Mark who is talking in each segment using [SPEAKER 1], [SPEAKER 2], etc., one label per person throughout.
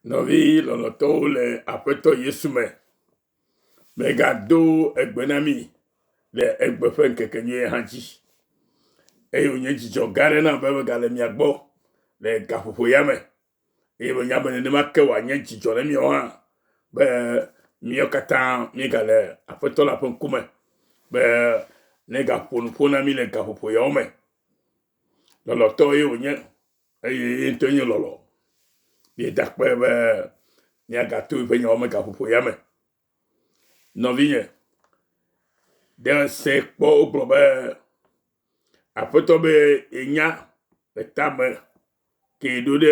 [SPEAKER 1] Nɔvi lɔlɔ̃tɔwo le Aƒetɔ Yesu me, megado egbe na mi le egbe ƒe ŋkekenyuie hã dzi. Eye wònye dzidzɔ gã aɖe nam be megale mia gbɔ le gaƒoƒo ya me. Eye menya be nenema ke wòanye dzidzɔ na miawo hã be míawo katã míegale Aƒetɔ la ƒe ŋkume be negaƒo nu ƒo na mí le gaƒoƒo yawo me. Lɔlɔ̃tɔ ye wònye. Eye ye ŋutɔe nye lɔlɔ̃. Miedakpɔe be miagato eƒe nyawo me gaƒoƒo ya me. Nɔvinye, ɖe se kpɔ wogblɔ be aƒetɔ be yenya le tame ke ɖo ɖe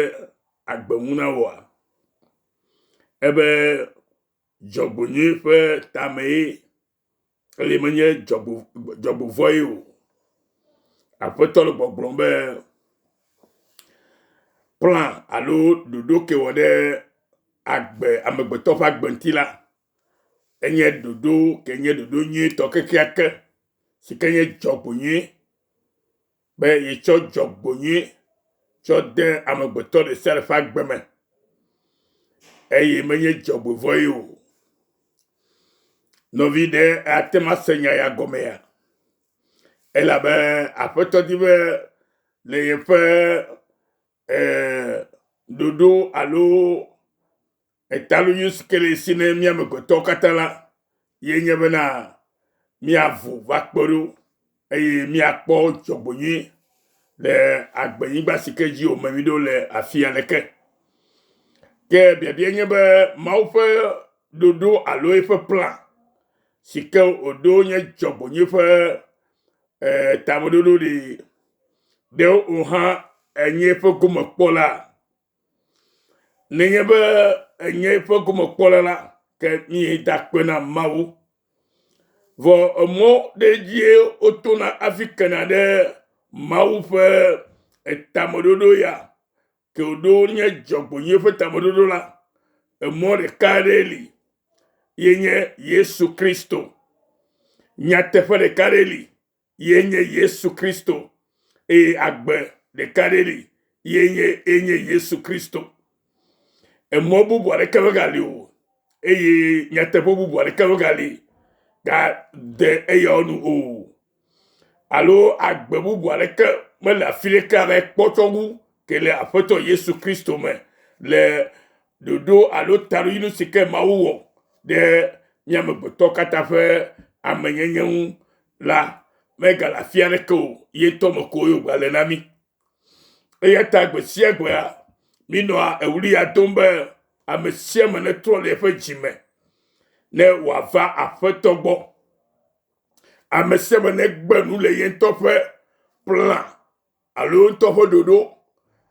[SPEAKER 1] agbe ŋu na wɔa? Ebe dzɔgbonyui ƒe tamee eye menye dzɔgbo dzɔgbovɔe o. Aƒetɔ le gbɔgblɔm be kpla alo ɖoɖo ke wɔ ɖe agbe amegbetɔ ƒe agbe ŋuti la enye ɖoɖo ke nye ɖoɖo nyuitɔ kekeake si ke nye dzɔgbo nyui be yetsɔ dzɔgbonyui tsɔ de amegbetɔ ɖe sia ɖe ƒe agbe me eye menye dzɔgbevɔ̃e o. Nɔvi ɖe ate ŋu ase nya ya gɔmea? Elabe Aƒetɔ di be le yeƒe eh, ɖoɖo alo Etalonyo si ke le esi ne mí amegbetɔwo katã la ye nye bena míavo va kpe ɖo eye míakpɔ dzɔgbenyui le agbenyigba si ke dzi wòme mí ɖo le afia le ke. Ke biabia nye be Mawu ƒe ɖoɖo alo eƒe plan si ke wòɖo nye dzɔgbenyui ƒe eh, tameɖoɖo ɖi ɖewo o hã enye eƒe gomekpɔla. Nenye be enye eƒe gomekpɔla la, ke míeda akpe na Mawu. Vɔ emɔ ɖe dzie wotona hafi kena ɖe Mawu ƒe tameɖoɖo ya. Ke wòɖo nye dzɔgbɔnyui ƒe tameɖoɖo la, emɔ ɖeka aɖee li, ye nye Yesu Kristo. Nyateƒe ɖeka aɖee li, ye nye Yesu Kristo, eye agbe ɖeka ɖe li ye nye ye nye Yesu Kristo. Emɔ bubu aɖeke megali o, eye nyateƒe bubu aɖeke megali gade eyawo nu o, alo agbe bubu aɖeke mele afi ɖeke abe kpɔtsɔ ŋu ke le Aƒetɔ Yesu Kristo me le ɖoɖo alo taɖodzinu si ke Mawu wɔ ɖe mía amegbetɔ katã ƒe amenyenye ŋu la megale afi aɖeke o ye ŋutɔ me ko ye wògale na mí eya ta gbe sia gbea mínɔa ewli ya dom be ame sia ame netrɔ le eƒe dzi me ne wòava aƒetɔ gbɔ ame sia ame negbe nu le ye ŋutɔ ƒe plan alo wo ŋutɔ ƒe ɖoɖo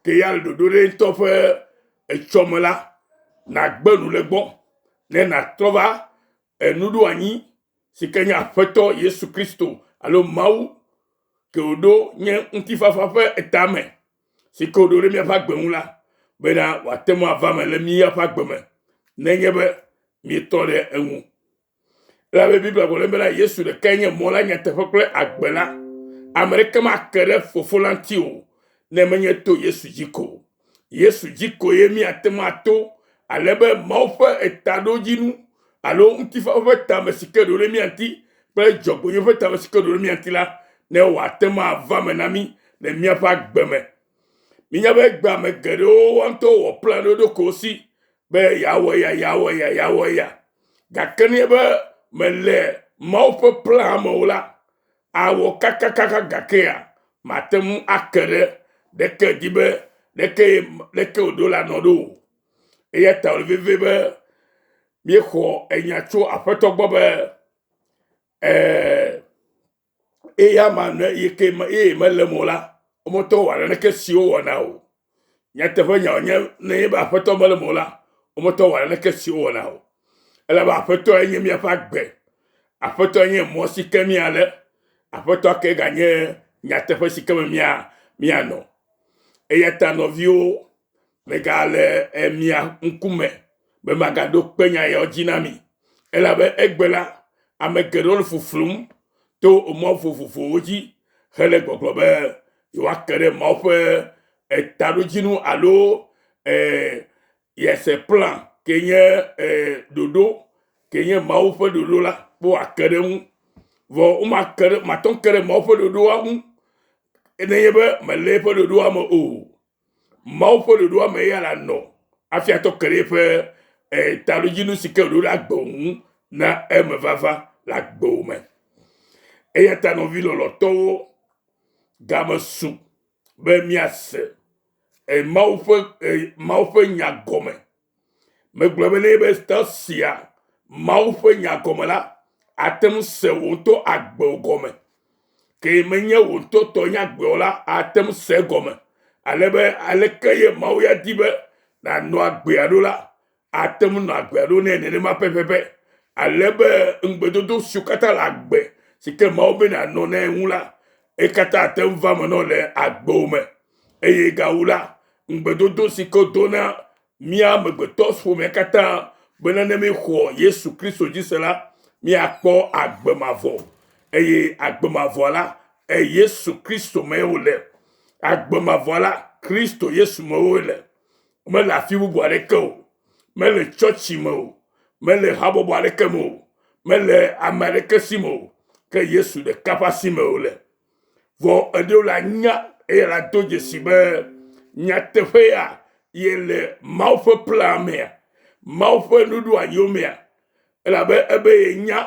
[SPEAKER 1] ke ya le ɖoɖo ɖe ŋutɔ ƒe etsɔ me la, nàgbe nu le gbɔ ne nàtrɔ va enuɖoanyi si ke nye Aƒetɔ Yesu Kristo alo Mawu ke wòɖo nye ŋutifafa ƒe etame si ke wòɖo ɖe míaƒe agbe ŋu la bena wòate ŋu ava me le míaƒe agbe me nenye be míetɔ ɖe eŋu. Elabe Biblia gblɔ bena Yesu ɖekae nye mɔ la, nyateƒe kple agbe la. Ame ɖeke make ɖe Fofo la ŋuti o ne menye to Yesu dzi ko. Yesu dzi koe míate ŋu ato ale be Mawu ƒe etaɖodzinu alo ŋutifafa ƒe tame si ke ɖo ɖe mía ŋuti kple dzɔgbevonyo ƒe tame si ke ɖo ɖe mía ŋuti la ne wòate ŋu ava me na mí le míaƒe agbe me Menye be gbe ame geɖewo woawo ŋutɔ wɔ plan ɖe wo ɖokuiwo si be yeawɔ ya yeawɔ ya yeawɔ ya gake ne be mele Mawu ƒe plan me o la awɔ kakakaka gakea mate ŋu ake ɖe ɖeke di be ɖeke ɖeke wòɖo la nɔ ɖo o eya ta wòle vevie be míexɔ enya tso aƒetɔ gbɔ be ee eye ama ne yike eye mele mo la womete wɔ naneke si wowɔna o nyateƒe nya wònye ne yebe aƒetɔ mele mo la womete wɔ naneke si wowɔna o elebe aƒetɔ enye miaƒe agbe aƒetɔ enye mɔ si ke miale aƒetɔ ke ganye nyateƒe si ke me mia mianɔ eya ta nɔviwo megale mia ŋkume be magaɖo kpe nya yawo dzi na mi, elabe egbe la, ame geɖewo le fuflum to mɔ vovovowo dzi hele gbɔgblɔ be yewoake ɖe Mawu ƒe taɖodzinu alo yese plan ke nye ɖoɖo ke nye Mawu ƒe ɖoɖo la be woake ɖe eŋu. Vɔ womake ɖe mate ŋu ake ɖe Mawu ƒe ɖoɖoa ŋu nenye be mele eƒe ɖoɖoa me o. Mawu ƒe ɖoɖoa me ya la nɔ afia tɔ ke ɖe eƒe eh, talodzinu si ke wòɖo ɖe agbe ŋu na eme vava le agbewò me. Eya ta nɔvi lɔlɔtɔwo, game su be miase eh, Mawu ƒe eh, Mawu ƒe nya gɔme Megblɔ be nɛ be te sia Mawu ƒe nya gɔme la, ate ŋu se wò ŋutɔ agbewo gɔme. Ke menye wò ŋutɔ tɔ nye agbewo la, ate ŋu se gɔme. Ale be aleke ye Mawu ya di be nànɔ agbea ɖo la, ate ŋu nɔ agbea ɖo nɛ nenema pɛpɛpɛ. Ale be ŋugbedodo siwo katã le agbe si ke Mawu be nànɔ nɛ ŋu la, ekatã ate ŋu va me nɔ le agbewo me. eye gawu la, ŋugbedodo si ke wodo na mía amegbetɔƒomea katã bena ne míexɔ Yesu Kristo dzi se la, míakpɔ agbe mavɔ eye agbe mavɔ la Yesu Kristo mee wòle. Agbe mavɔ la Kristo Yesu mee wòle. Mele afi bubu aɖeke o. Mele tsɔtsi me o. Mele habɔbɔ aɖeke me o. Mele ame aɖeke si me o. Ke Yesu ɖeka ƒe asi mee wòle. Vɔ eɖewo la nya eye la do dzesi be nyateƒe ya ye le Mawu ƒe plea mea, Mawu ƒe nuɖoa yomea, elabe ebe ye nya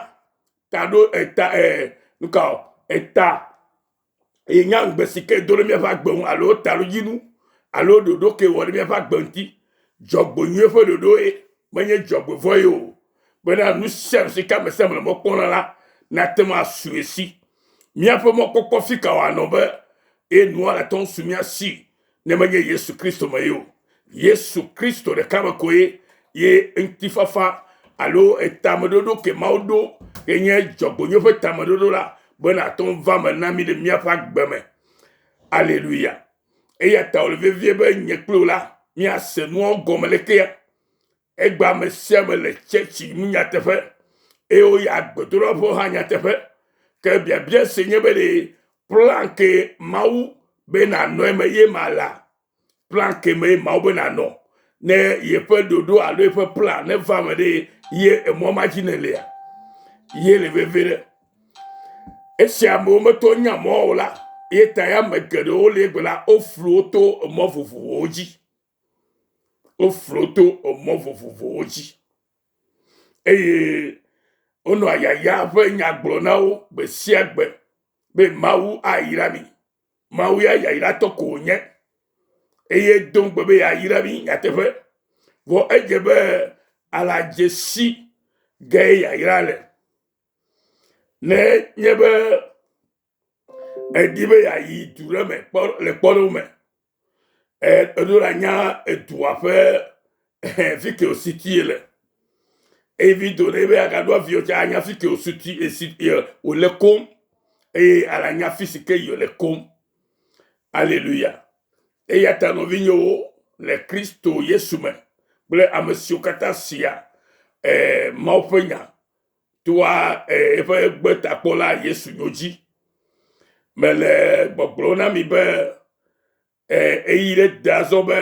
[SPEAKER 1] ta ɖo eta ɛ nuka o eta ye nya ŋugbe si ke do ɖe míaƒe agbe ŋu alo ta ɖo dzinu alo ɖoɖo ke wɔ ɖe míaƒe agbe ŋuti. Dzɔgbe nyuie ƒe ɖoɖo ye menye dzɔgbe vɔ ye o. Bena nu sia nu si ke ame sia ame le mɔ kpɔm na la nate ŋu asu ye si. Míaƒe mɔkpɔkpɔ fi ka wòanɔ be ye nua le tɔm su mía si ne menye Yesu Kristo me ye o? Yesu Kristo ɖeka me koe ye ŋutifafa alo tameɖoɖo ke Mawu ɖo ke nye dzɔgbonyo ƒe tameɖoɖo la be nàte ŋu va me na mí le míaƒe agbe me. Aleluya! Eya ta wòle vevie be nye kpli wò la míase nuawo gɔme lekea? Egbea ame sia ame le tsɛtsi nu nyateƒe, eye woyia gbedoɖaƒe hã nyateƒe. Ke biabia si nye be ɖe plan ke Mawu be nànɔ eme ye ma la, plan ke mee Mawu be nànɔ ne yeƒe ɖoɖo alo yeƒe plan neva me ɖe ye emɔ ma dzi nèlea? Ye le veve ɖe. Esi amewo metɔ nya mɔ o la, ye ta ya ame geɖewo le egbe la, woflu wo to emɔ vovovowo dzi. Woflo to emɔ vovovowo dzi eye wonɔ yaya ƒe nya gblɔ na wo gbe sia gbe be Mawu ayra mi. Mawu ya yayratɔ ko wònye eye do ŋugbe be yeayra mi nyateƒe. Vɔ edze be aladzesi si ge yayra le. Ne nye be Edi be yeayi du ɖe me kpɔ le kpɔɖeŋu me. Eɖo la nya edua ƒe fike ositi le. Eye vi do ɖe be agaɖo avio tsa anya fike osuti esi wòle kom eye alanya fi si ke yòle kom. Aleluya. Eya ta nɔvinyewo le Kristo Yesu me kple ame siwo katã sia eh, Mawu ƒe nya toa eƒe gbetakpɔla Yesu nyo dzi. Mele gbɔgblɔ na mi be eyi ɖe de azɔ be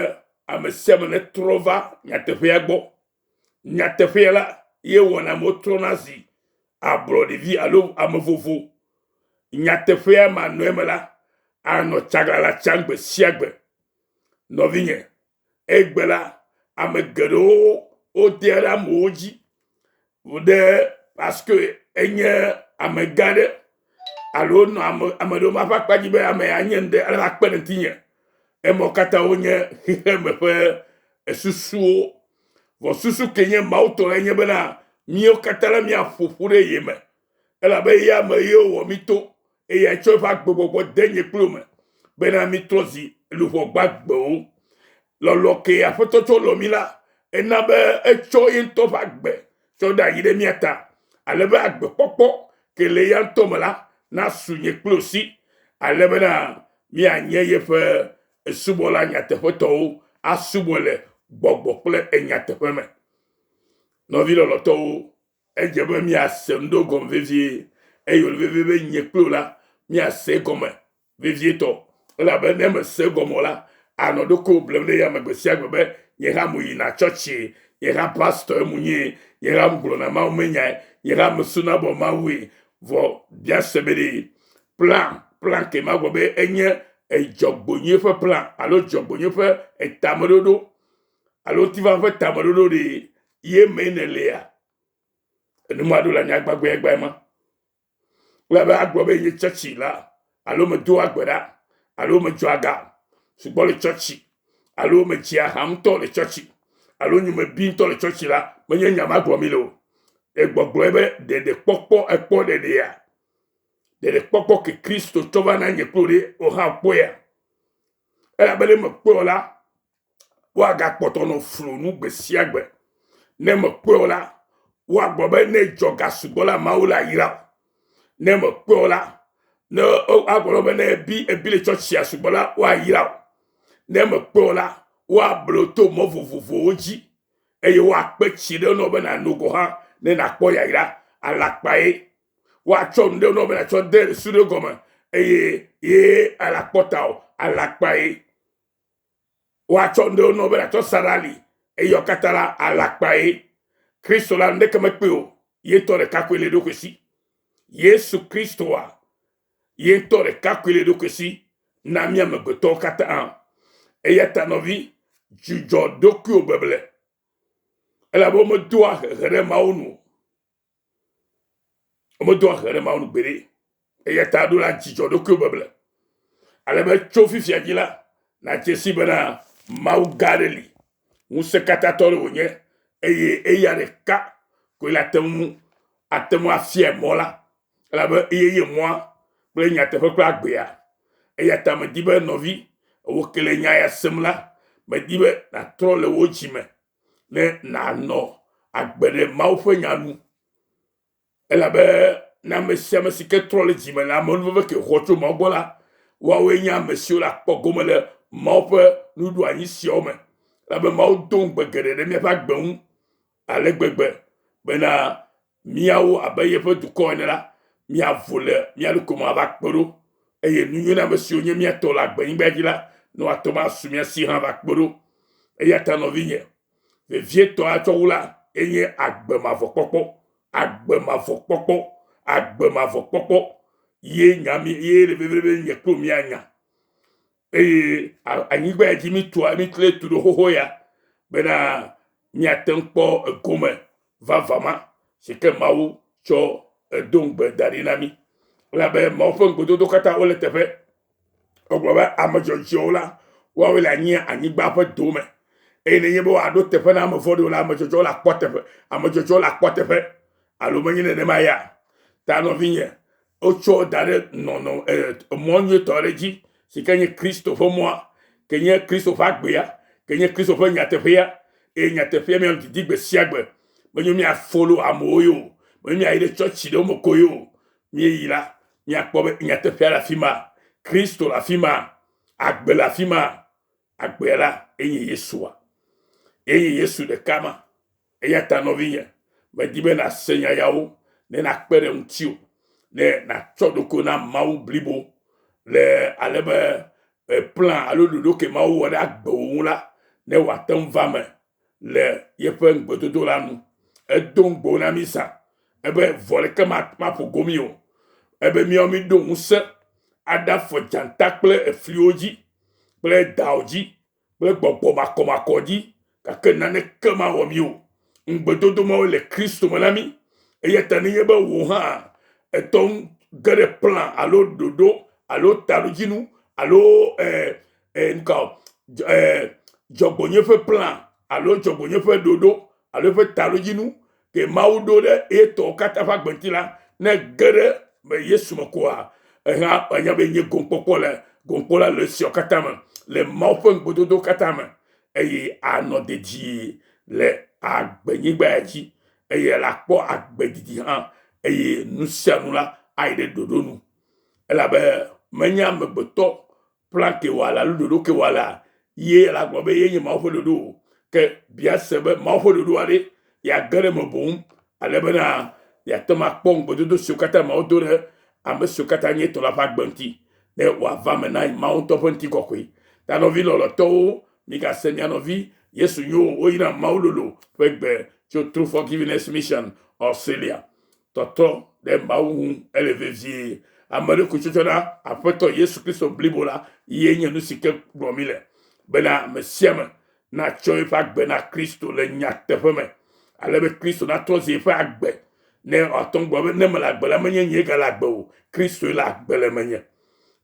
[SPEAKER 1] ame sia ame netrɔ va nyateƒea gbɔ. Nyateƒea la ye wɔna amewo trɔna zi ablɔɖevi alo ame vovo. Nyateƒea manɔe me la anɔ tsaglala tsam gbe sia gbe. Nɔvinye, Egbe la, ame geɖewo wodea ɖe amewo dzi ɖe paske enye amegã aɖe alo nɔ ame ame ɖewo ƒe akpa dzi be ame ya nye ŋɖe ale akpe ɖe ŋutinye. Emawo katã wonye xexeme ƒe esusuwo. Vɔ susu ke nye Mawu tɔ la nye bena míawo katã la míaƒo ƒu ɖe ye me elabe eya me ye wowɔ mí to Eye etsɔ eƒe agbegbɔgbɔ de nye kplo me, bena mitrɔ zi luʋɔ gbagbewo. Lɔlɔ kee Aƒetɔ tsɔ lɔ mi la, ena be etsɔ ye ŋutɔ ƒe agbe tsɔ ɖe ayi ɖe mía ta, ale be agbekpɔkpɔ ke le eya ŋutɔ me la nasu nye kplo si, ale bena mianye yeƒe subɔla nyateƒetɔwo, asubɔe le gbɔgbɔ kple enyateƒe me. Nɔvi lɔlɔtɔwo, Edze be míase nu do gɔme vevie, eye wòle vevie be nye kple wò la, míase egɔme vevietɔ. Elabe ne mèse egɔme o la, ànɔ ɖokuiwò blem ɖe yame gbe sia gbe be, Nye hã meyina tsɔtsi, nye hã pastɔe menye, nye hã megblɔna mawumenyae, nye hã mesunabɔ Mawue. Vɔ míase be ɖee, plan, plan ke magblɔ be enye edzɔgbonyoe ƒe plan alo dzɔgbonyoe ƒe etameɖoɖo alo ŋutifafaa ƒe tameɖoɖo ɖe ye mee nèlea? Enumadolae nye agbagbãegbãe ma. Wòle abe agblɔ be nye tsɔtsi la alo medoa gbe ɖa alo medzɔa ga sugbɔ le tsɔtsi alo medzea ha ŋutɔ le tsɔtsi alo nye mebi ŋutɔ le tsɔtsi la menye nya ma gblɔm le o. Egbɔgblɔe be ɖeɖekpɔkpɔ ekpɔ ɖeɖea? Ɖeɖekpɔkpɔ ke Kristo tsɔ va na nye kplo ɖe wò hã kpɔea? Elabe ne mekpɔe o la, woagakpɔtɔ nɔ flo nu gbe sia gbe. Ne mekpɔe o la, woagblɔ be ne dzɔ ga sugbɔ la Mawu la yra o. Ne mekpɔe o la, ne woagblɔ be ne ebi ebi le tsɔtsia sugbɔ la woayira o. Ne mekpɔe o la, woablo to mɔ vovovowo dzi eye woakpe tsi ɖe nɔ be nano gɔ hã ne nakpɔ yayra alakpae. Woatsɔ nu ɖe nɔ be natsɔ de su ɖe gɔme eye ye alakpɔta o alakpae. Woatsɔ ŋɖewo nɔwo be ɖatsɔ sa ɖe ali, eye eyawo katã la, alakpae. Kristo la, nuɖeke mekpɔe o, ye ŋutɔ ɖeka koe li eɖokui si. Yesu Kristoa, ye ŋutɔ ɖeka koe li eɖokui si na mí amegbetɔwo katã. Eya ta nɔvi, dzudzɔ ɖokuiwò beble, elabe womedoa hehe ɖe Mawu nu o. Womedoa ʋe ɖe Mawu nu gbeɖe. Eya ta ɖo la dzidzɔ ɖokuiwò beble. Ale be tso fifia dzi la, nàdze si bena Mawu gã aɖe li, ŋusẽkatãtɔ aɖe wònye, eye eya ɖeka koe le ate ŋu ate ŋu afia mɔ la, elabe eye nye mɔa kple nyateƒe kple agbea. Eya ta medi be nɔvi, wò ke le nya ya sem la, medi be nàtrɔ le wò dzi me ne nànɔ agbe ɖe Mawu ƒe nya nu. Elabe ne ame sia ame si ke trɔ le dzi me le amenuveve ke xɔ tso Mawu gbɔ la, woawoe nye ame siwo le akpɔ gome le Mawu ƒe nuɖoanyi siawo me. Elabe Mawu do ŋugbe geɖe ɖe míaƒe agbe ŋu ale gbegbe bena míawo abe yeƒe dukɔ ene la, míavo le mía ɖokui me ava kpe ɖo, eye nu nyui na ame siwo nye mía tɔ le agbenyigba dzi la, ne woate ŋu asu mía si hã va kpe ɖo. Eya ta nɔvinye vevietɔ atsɔ wu la enye agbe mavɔ kpɔkpɔ, agbe mavɔ kpɔkpɔ, agbe mavɔ kpɔkpɔ ye nya mi ye le vevie be nye kplo mía nya. Eye anyigba ya dzi mitua, miklɔe tu ɖo xoxo ya, bena miate ŋu kpɔ egome vavã ma si ke Mawu tsɔ edo ŋugbe da ɖi na mi. Elabe Mawu ƒe ŋugbedodo katã wole teƒe. Egblɔ be ame dzɔdzɔewo la, woawoe le anyi anyigba ƒe dome. Eye nenye be wòaɖo teƒe na ame vɔ̃ɖiwo la, ame dzɔdzɔewo le akpɔ teƒe, ame dzɔdzɔewo le akpɔ teƒe. Alo menye nenema ya? Ta nɔvinye, Wotsɔ da ɖe nɔnɔ emɔ nyuitɔ aɖe dzi si ke nye Kristo ƒe mɔa, ke nye Kristo ƒe agbea, ke nye Kristo ƒe nyateƒea, eye nyateƒea mía didi gbe sia gbe. Menyo mía folo amewo yo, menyo mía yi ɖe tsɔtsi ɖewo me ko yo. Míeyi la, míakpɔ be nyateƒea le afi ma, Kristo le afi ma, agbe le afi ma, Agbea la enye Yesua. Enye Yesu ɖeka ma. Eya ta nɔvinye, medi be nàse nya yawo ne nakpe ɖe ŋutiwò ne natsɔ ɖoko na Mawu blibo le ale be plan alo ɖoɖo ke Mawu wɔ ɖe agbe wò ŋu la, ne wòate ŋu va me le yeƒe ŋugbedodo la nu. Edo ŋugbewo na mí zã. Ebe vɔ ɖeke maƒo go mí o. Ebe míawo míɖo ŋusẽ aɖafɔ dzata kple efliwo dzi kple dao dzi kple gbɔgbɔ makɔmakɔ dzi, gake naneke mawɔ mí o. Ŋugbedodo mawo le Kristo me na mí. Eya ta nenye be wò hã ètɔ ŋu ge ɖe plan alo ɖoɖo alo taɖodzinu alo eh, eh, ŋkɔ eh, dzɔgbonye ƒe plan alo dzɔgbonye ƒe ɖoɖo alo eƒe taɖodzinu ke mawu ɖo ɖe etɔwo katã ƒe agbenti la ne ge ɖe me yesu me koa ehã anya be nye gomkpɔkpɔ le gomkpɔ la le esiawo katã me le mawu ƒe ŋugbedodo katã me eye anɔ dedie le agbenyigba ya dzi eye la kpɔ agbedidi hã eye nu sia nu la ayi ɖe ɖoɖo nu elabe menya amegbetɔ Plante wɔla alo ɖoɖoke wɔla ye la gblɔ be ye nye Mawu ƒe ɖoɖo o. Ke bia se be Mawu ƒe ɖoɖoa ɖe yeage ɖe eme boŋ ale bena yeate ŋu akpɔ ŋugbedodo siwo katã Mawu do ɖe ame siwo katã nye etɔ̃ la ƒe agbe ŋuti, ne wòava eme na Mawu ŋutɔ ƒe ŋutikɔkɔe. Ta nɔvi lɔlɔ̃tɔwo, migase mia nɔvi Yesu nyo o. Woyina Mawu lolo ƒe gbe tso True Forgiveness Mission, Australia. tɔtrɔ ɖe Mawu ŋu ele vevie. Ame ɖe koe tsɔ tsɔna Aƒetɔ Yesu Kristo blibo la ye nye nu si ke gblɔ mi le bena ame sia ame natsɔ eƒe agbe na Kristo le nyateƒe me ale be Kristo natrɔ zi eƒe agbe ne wòatɔ ŋgɔ be ne mele agbe la menye nye gale agbe o Kristoe le agbe le menye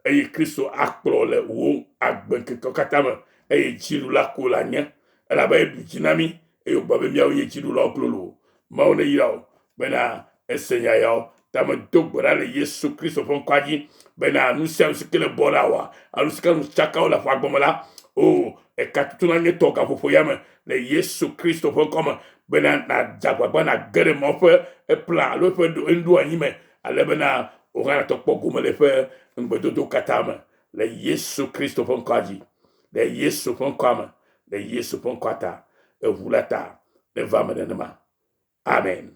[SPEAKER 1] eye Kristo akplɔ le wò agbe ŋkeke katã me eye dzinu la ko la nye elabe eɖu dzi na mi eye wògblɔ be, Miawo nye dziɖulawo klolo! Mawu neyra wò bena èse nya yawo. Ta medo gbe ɖa le Yesu Kristo ƒe ŋkɔa dzi bena nu sia nu si ke le bɔ la wòa, alo nu si ke nu tsaka wole aƒea gɔme la, o, eka tutu na nye tɔ gaƒoƒo ya me le Yesu Kristo ƒe ŋkɔ me, bena nàdze agbagba nàge ɖe Mawu ƒe eplan alo eƒe enuɖoanyi me, ale bena wò hã nàtɔ kpɔ gome le eƒe ŋugbedodowo katã me le Yesu Kristo ƒe ŋkɔa dzi. ɖe Yesu ƒe ŋkɔa me, ɖe Yesu ƒe ŋkɔa ta, eŋu la ta neva me nenema. Amen.